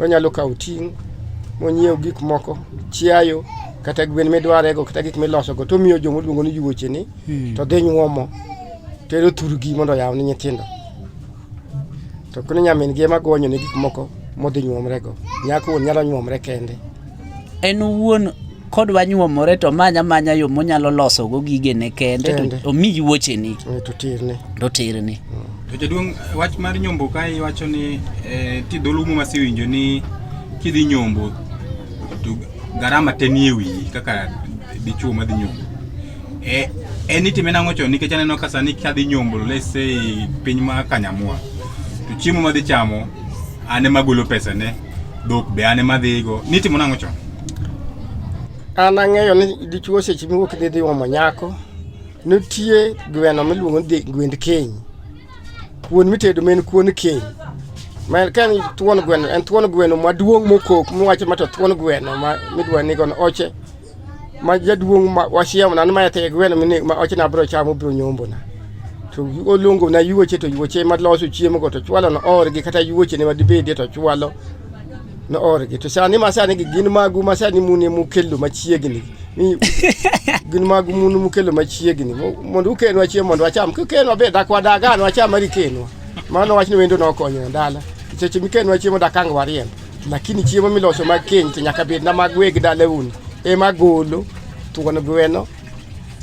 Onyalo kawo ting' monyiew gik moko, chiayo kata gwen midwarego kata gik milosogo to omiyo joma oluongo ni yuoche ni hmm. to dhi nyuomo tero thurgi mondo oyaw ni nyithindo. To kune nyamin gi ema gonyo ne gik moko modhi nyuomrego. Nyako nyalo nyuomre kende. en owuon kodwa nyuomore to manya manya yo monyalo loso go gigene kende Kende. to omi yuocheni Eh, to tirne to tirni To jaduong' wach mar nyombo kae iwacho ni eh, ti dholuo muma sewinjo ni kidhi nyombo to garama te nie wiyi kaka dichuo madhi nyombo. Eh, en itime nang'o chon nikech aneno ka sani kadhi nyombo let's say piny ma Kanyamwa to chiemo madhi chamo an ema agolo pesane Dhok be an ema adhigo. Nitimo nang'o chon? An ang'eyo ni dichuo seche miwuok idhi dhi omo nyako, nitie gweno miluongo ni gwend keny. Kuon mitedo ma en kuon keny. Ma ka en thuon gweno, en thuon gweno maduong' mokok miwacho ma to thuon gweno ma midwa nigo oche ma jaduong' ma wachiemo na ma yathe gweno mine ma oche na bro chamo bro nyombo na to oluongo na yuoche to yuoche ma loso chiemo go to chwalo no or gi kata yuoche ne madibede to chwalo no or gi to sani ma sani gin magu ma sani mune mukelo machiegni ni gin magu mune mukelo machiegni mondo ukenwa chiemo mondo wacham kukenwa be dak wadaga no wacham ari kenwa mano wachni wendo nokonyo ndala seche mikenwa chiemo dakang wariembo Lakini chiemo miloso mag keny to nyaka bed na mag weg dalauni ema golo thuon gweno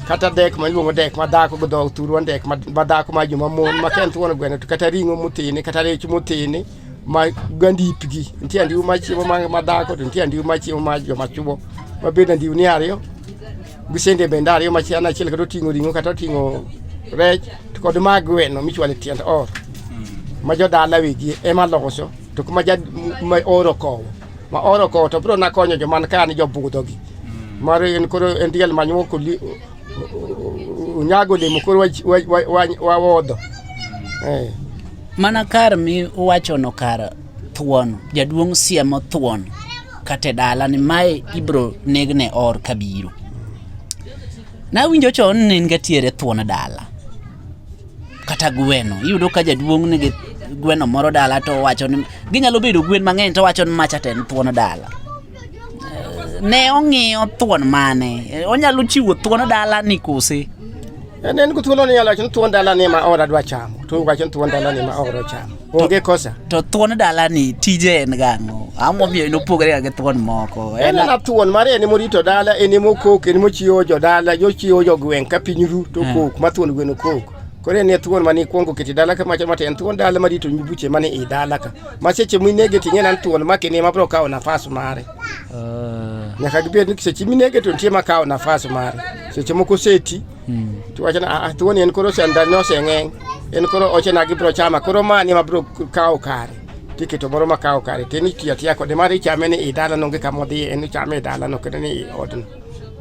kata dek ma iluongo dek ma dhako gi dhok thurwa dek ma dhako ma joma mon ma ken thuon gweno to kata ring'o motene kata rech motene ma gandipgi nitie andiwo ma chiemo ma dhako to nitie andiwo ma chiemo ma joma chuo ma bed andiwo ni ariyo gi sende bende ariyo ma chian achiel kata oting'o ring'o kata oting'o rech to kod mag gweno michwale tiend or ma jodala wigi ema loso To kuma ja ma oro kowo ma oro kowo to bro na konyo joman ka ni jobudho gi mm. mar en koro en diel manyuo ko nyago limo koro wa wodho mm. eh. mana kar mi wacho no kar thuon jaduong siemo thuon kate dala ni mae ibro negne or kabiro na winjo chon ne ngatiere thuon dala kata gweno iyudo ka jaduong' nigi gweno moro dala to wacho ni ginyalo bedo gwen mang'eny to wacho ni macha to en thuon dala ne ong'iyo thuon mane onyalo chiwo thuon dala ni kose en en ko thuolo ni nyalo wacho ni thuon dala ni ma ora dwa chamo to wacho ni thuon dala ni ma ora chamo Onge kosa. To thuon dalani tije en gang'o? Ang'o momiyo en opogore gi thuon moko? En na thuon mare en morito dala, en mokok, en mochiwo jo dala, jochiwo jo gweng' ka piny ru to eh. kok, ma thuon gweno kok. Koro en thuon mani kwongo kiti dala ka macha mate en thuon dala marito nyibuche mani i dala ka. Ma seche minege ting'e nan thuon ma kini ma bro kawo nafas mare. Uh. Nyaka gibed ni seche minege to nitie ma kawo nafas mare. Seche moko seti hmm. tiwacho na ah, tuoni en koro sandani oseng'eng' en koro oche na gibiro chama koro mani ma biro kawo kare tiketo moro ma kawo kare tin itiyo atiya kode mar ichame ni i dalano onge kama odhiye en ichame i dalano kendo ni i odno